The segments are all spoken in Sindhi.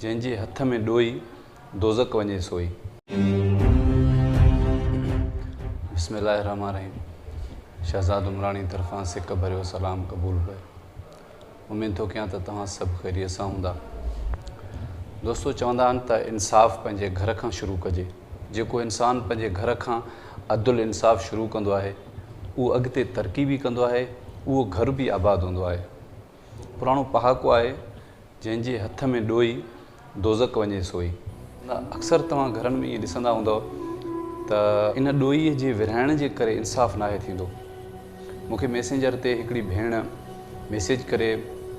جنهن جي هٿ ۾ ڏوئي، دوزخ وڃي سوئي. بسم الله الرحمٰن الرحيم شهزاد عمراڻي طرفان سڪ ڀريو سلام قبول ڪيو. اميد ٿو ڪيان ته توهان سڀ خيريت سان هوندا. دوستو چوندا آهن ته انصاف پنهنجي گهر کان شروع ڪجي. جيڪو انسان پنهنجي گهر کان عدل انصاف شروع ڪندو آهي اهو اڳتي ترقي به ڪندو آهي اهو گهر به آباد هوندو آهي. پراڻو پهاڪو آهي، جنهن جي هٿ ۾ ڏوئي، دوزخ وڃي سوئي. اڪثر توهان گهرن ۾ ائين ڏسندا هوندؤ ته ان ڏوئي جي ورهائڻ جي ڪري انصاف ناهي ٿيندو. مون کي ميسينجر تي هڪڙي ڀيڻ ميسيج ڪري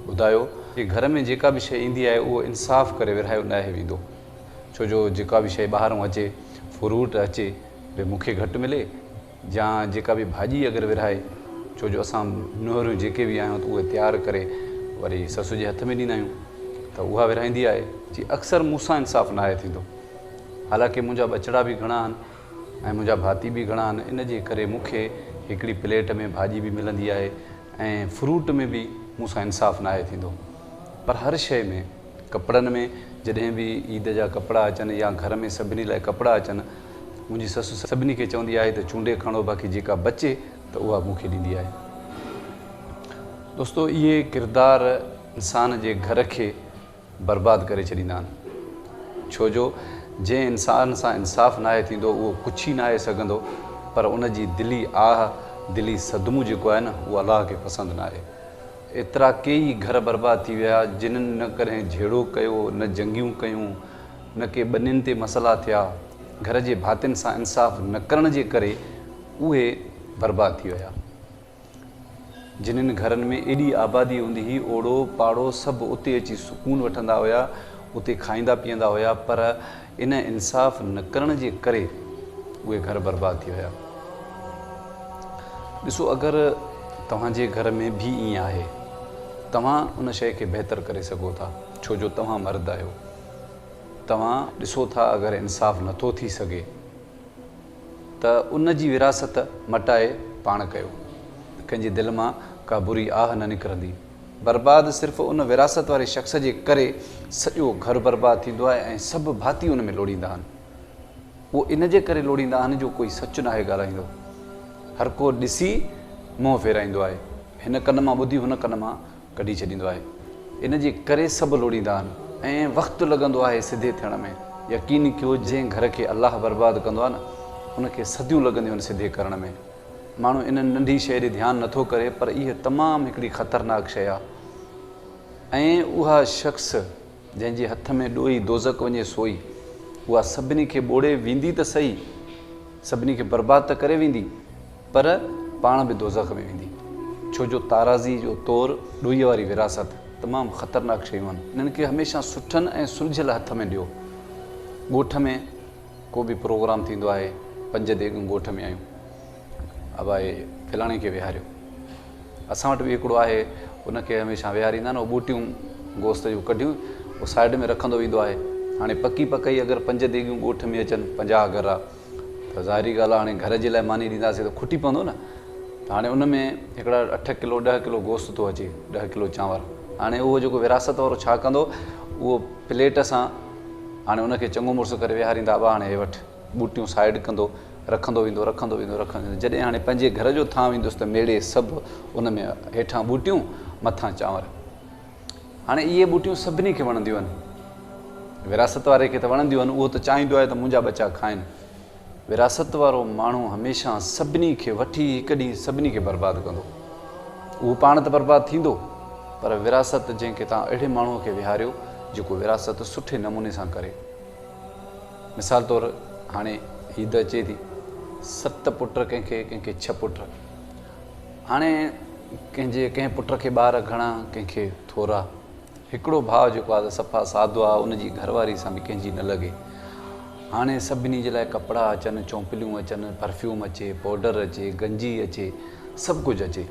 ٻڌايو ته گهر ۾ جيڪا به شيء ايندي آهي اهو انصاف ڪري ورهايو ناهي ويندو. ڇو جو جيڪا به شيء ٻاهرئون اچي، فروٽ اچي، به مون کي گهٽ ملي. جا جيڪا به ڀاڄي اگر ورهائي ڇو جو اسان نوهريون جيڪي به آهيون ته اهي تيار ڪري وري سسو جي هٿ ۾ ڏيندا آهيون ته اها ورهائيندي آهي جي اڪثر مون سان انصاف ناهي ٿيندو حالانڪه منهنجا ٻچڙا به گهڻا آهن ۽ منهنجا ڀاتي به گهڻا آهن ان جي ڪري مون کي هڪڙي پليٽ ۾ ڀاڄي به ملندي آهي ۽ فروٽ ۾ به مون سان انصاف ناهي ٿيندو پر هر شيء ۾ ڪپڙن ۾ جڏهن به عيد جا ڪپڙا اچن يا گهر ۾ سڀني لاء ڪپڙا اچن، منهنجي سس سڀني کي چوندي آهي ته چونڊي کڻو باقي جيڪا بچي ته اها مون کي ڏيندي آهي. دوستو اهي ڪردار انسان جي گهر کي برباد ڪري ڇڏيندا آهن ڇو جو جنهن انسان سان انصاف ناهي ٿيندو اهو ڪڇ ئي ناهي سگهندو پر ان جي دلي آهه، دلي صدمو جيڪو آهي نه اهو الله کي پسند ناهي. ايترا ڪيئي گهر برباد ٿي ويا، جنھن نه ڪڏھن جھيڙو ڪيو، نه جنگيون ڪيون، نه ڪي ٻنين تي مسئلا ٿيا، گهر جي ڀاتين سان انصاف نه ڪرڻ جي ڪري اهي برباد ٿي ويا. جنھن گهرن ۾ ايڏي آبادي هوندي هئي، اوڙو پاڙو سڀ اتي اچي سڪون وٺندا هيا، اتي کائيندا پيئندا هيا، پر ان انصاف نه ڪرڻ جي ڪري اهي گهر برباد ٿي ويا. ڏسو اگر توهان جي گهر ۾ به ائين آهي توهان ان شيء کي بهتر ڪري سگهو ٿا ڇو جو توهان مرد آهيو. توهان ڏسو ٿا اگر انصاف نٿو ٿي سگهي. ته ان جي وراثت مٽائي پاڻ ڪيو ته ڪنهن جي دل مان ڪا بري آهه نه نڪرندي. برباد صرف ان وراثت واري شخص جي ڪري سڄو گهر برباد ٿيندو آهي ۽ سڀ ڀاتي ان ۾ لوڙيندا آهن. اهو ان جي ڪري لوڙيندا آهن جو ڪوئي سچ ناهي ڳالهائيندو. هرڪو ڏسي منهن ڦيرائيندو آهي. هن ڪن مان ٻڌي هن ڪن مان ڪڍي ڇڏيندو آهي ان جي ڪري سڀ لوڙيندا آهن ۽ وقت لڳندو آهي سڌي ٿيڻ ۾ يقين ڪيو جنهن گهر کي الله برباد ڪندو آهي نه ان کي صديون لڳنديون آهن سڌي ڪرڻ ۾ ماڻهو ان ننڍي شيء ڏي ڌيان نٿو ڪري پر اهي تمام هڪڙي خطرناڪ شيء آهي ۽ اها شخص جنهن جي هٿ ۾ ڏوئي دوزخ وڃي سوئي اها سڀني کي ٻوڙي ويندي ته سهي سڀني کي برباد ته ڪري ويندي پر پاڻ به دوزخ ۾ ويندي، ڇو جو تارازي جو تور، ڏوهيء واري وراثت، تمام خطرناڪ شيون آهن. انهن کي هميشه سٺن ۽ سلجهيل هٿ ۾ ڏيو. ڳوٺ ۾ ڪو به پروگرام ٿيندو آهي، پنج ديڳون ڳوٺ ۾ آيون، ابائي فلاڻي کي ويهاريو. اسان وٽ به هڪڙو آهي، ان کي هميشه ويهاريندا آهن، اهو ٻوٽيون گوشت جون ڪڍيون، اهو سائيڊ ۾ رکندو ويندو آهي. هاڻي پڪي پڪائي اگر پنج ديڳيون ڳوٺ ۾ اچن، پنجاهه گهرا. ته ظاهري ڳالهه آهي هاڻي گهر جي لاء ماني ڏينداسين ته کٽي پوندو نه ته هاڻي ان ۾ هڪڙا اٺ ڪلو ڏهه ڪلو گوشت ٿو اچي ڏهه ڪلو چانور هاڻي اهو جيڪو ورهاست وارو ڇا ڪندو اهو پليٽ سان هاڻي ان کي چڱو مڙس ڪري ويهاريندا ابا هاڻي هي وٺ ٻوٽيون سائيڊ ڪندو رکندو ويندو رکندو ويندو رکندو ويندو جڏهن هاڻي پنهنجي گهر جو ٿانو ايندس ته ميڙي سڀ ان ۾ هيٺان ٻوٽيون مٿان چانور هاڻي اهي ٻوٽيون سڀني کي وڻنديون آهن. وراثت واري کي ته وڻنديون آهن، اهو ته چاهيندو آهي ته منهنجا ٻچا کائن. وراثت وارو ماڻهو هميشه سڀني کي وٺي هڪ ڏينهن سڀني کي برباد ڪندو. اهو پاڻ ته برباد ٿيندو، پر وراثت جنهن کي توهان اهڙي ماڻهوء کي ويهاريو، جيڪو وراثت سٺي نموني سان ڪري. مثال طور هاڻي هيء ڌئ چئي ٿي، ست پٽ ڪنهن کي، ڪنهن کي ڇهه پٽ. هاڻي ڪنهن جي ڪنهن پٽ کي ٻار گهڻا ڪنهن کي ٿورا. هڪڙو ڀاء جيڪو آهي سو صفا سادو آهي ان جي گهر واري سان به ڪنهن جي نه لڳي. هاڻي سڀني جي لاء ڪپڙا اچن، چونپليون اچن، پرفيوم اچي، پوڊر اچي، گنجي اچي، سڀ ڪجهه اچي.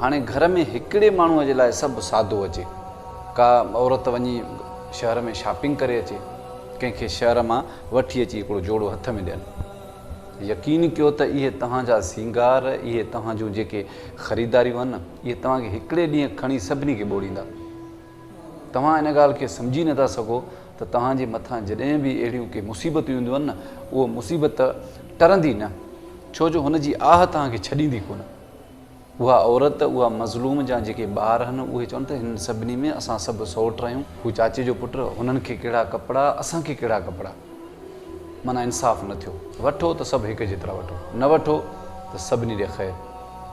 هاڻي گهر ۾ هڪڙي ماڻهوء جي لاء سڀ سادو اچي. ڪا عورت وڃي شهر ۾ شاپنگ ڪري اچي، ڪنهن کي شهر مان وٺي اچي هڪڙو جوڙو هٿ ۾ ڏين. يقين ڪيو ته اهي توهان جا سينگار، اهي توهان جون جيڪي خريداريون آهن، اهي توهان کي هڪڙي ڏينهن کڻي سڀني کي ٻوڙيندا. توهان ان ڳالهه کي سمجهي نه ٿا سگهو ته توهان جي مٿان جڏهن به اهڙيون ڪي مصيبتون اينديون آهن نه، اهو مصيبت ٽرندي نه، ڇو جو هن جي آهه توهان کي ڇڏيندي ڪونه. اها عورت، اها مظلوم جا جيڪي ٻار هن، اهي چون ته هنن سڀني ۾ اسان سڀ سئوٽ رهيون. هو چاچي جو پٽ، هنن کي ڪهڙا ڪپڙا، اسان کي ڪهڙا ڪپڙا. معنيٰ انصاف نه ٿيو. وٺو ته سڀ هڪ جيترا وٺو، نه وٺو ته سڀني ڏي خير.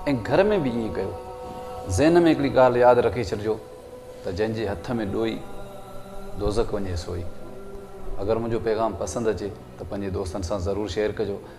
۽ گهر ۾ به ائين ڪيو. ذهن ۾ هڪڙي ڳالهه ياد رکي ڇڏجو ته جنهن جي هٿ ۾ ڏوئي، دوزخ وڃي سوئي. اگر منهنجو پيغام پسند اچي ته پنهنجي دوستن سان ضرور شيئر ڪجو.